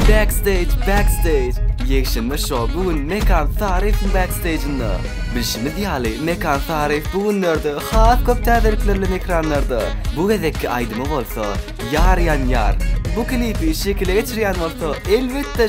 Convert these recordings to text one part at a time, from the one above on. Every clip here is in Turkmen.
Backstage Backstage Ýekşenbe şou bu gün Mekan Saryýewiň Backstage'inde. Bilşimiz ýaly, Mekan Saryýew bu günlerde has köp täzelikler bilen ekranlarda. Bu gezekki aýdymy bolsa, Ýar ýan ýar. Bu klipi şekile geçirýän bolsa, elbetde,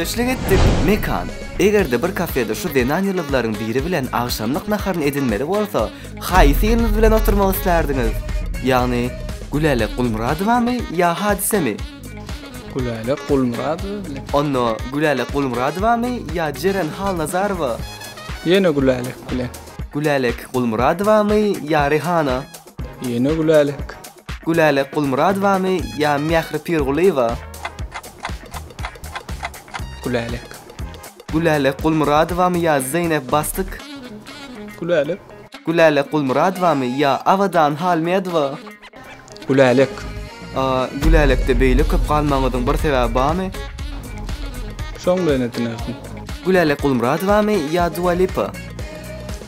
Söhbetdeşlik etdik. Mekan. Eger-de bir kafede şu zenan ýyldyzlaryň biri bilen agşamlyk naharyny edinmeli bolsa, haýsy ýyldyz bilen oturmak islärdiňiz? Ýagny, Gülälek Gulmyradowamy ýa Hadisemi? Gülälek Gulmyradowa bilen. Onda Gülälek Gulmyradowamy ýa Jeren Halnazarowa? Ýene Gülälek bilen. Gülälek Gulmyradowamy ýa Rihana? Ýene Gülälek. Gülälek Gulmyradowamy ýa Mähri Pirgulyýewa? Gülälek. Gülälek Gulmyradowamy ýa Zeýnep Bastyk? Gülälek. Gülälek Gulmyradowamy ýa Abadan Halmedowa? Gülälek. A, Gülälekde beýle köp galmagyňyzyň bir sebäbi barmy? Şoň bilen edinäsiň. Gülälek Gulmyradowamy ýa Dua Lipa?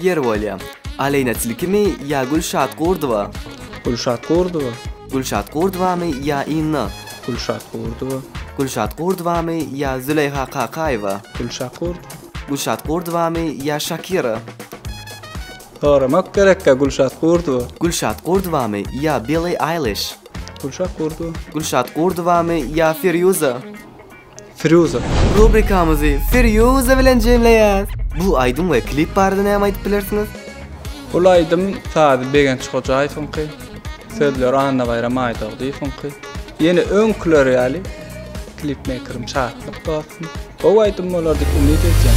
Ýer bolýa. Aleýna Tilkimi ýa Gülşat Gurdowa? Gülşat Gurdowa. Gülşat Gurdowamy ýa Inna? Gülşat Gurdowa. Gülşat Gurdowamy ýa Züleýha Kakaýewa? Gülşat Gurdowa. Gülşat Gurdowamy ýa Şakira? Soramak gerekkä Gülşat Gurdowa. Gülşat Gurdowamy ýa Billi Aýliş? Gülşat Gurdowa. Gülşat Gurdowamy ýa Firýuza? Firýuza. Rubrikamyzy Firýuza bilen jemleýäs. Bu aýdym we klip barada näme aýdyp bilersiňiz? Bul aýdym sazy Begenç Hojaýewiňki, sözleri Annabaýram Aýdogdyýewiňki. Ýene öňküler ýaly klipmeýkerim Şatlyk dostum. Gowy aýdym bolar diýip umyt edýän.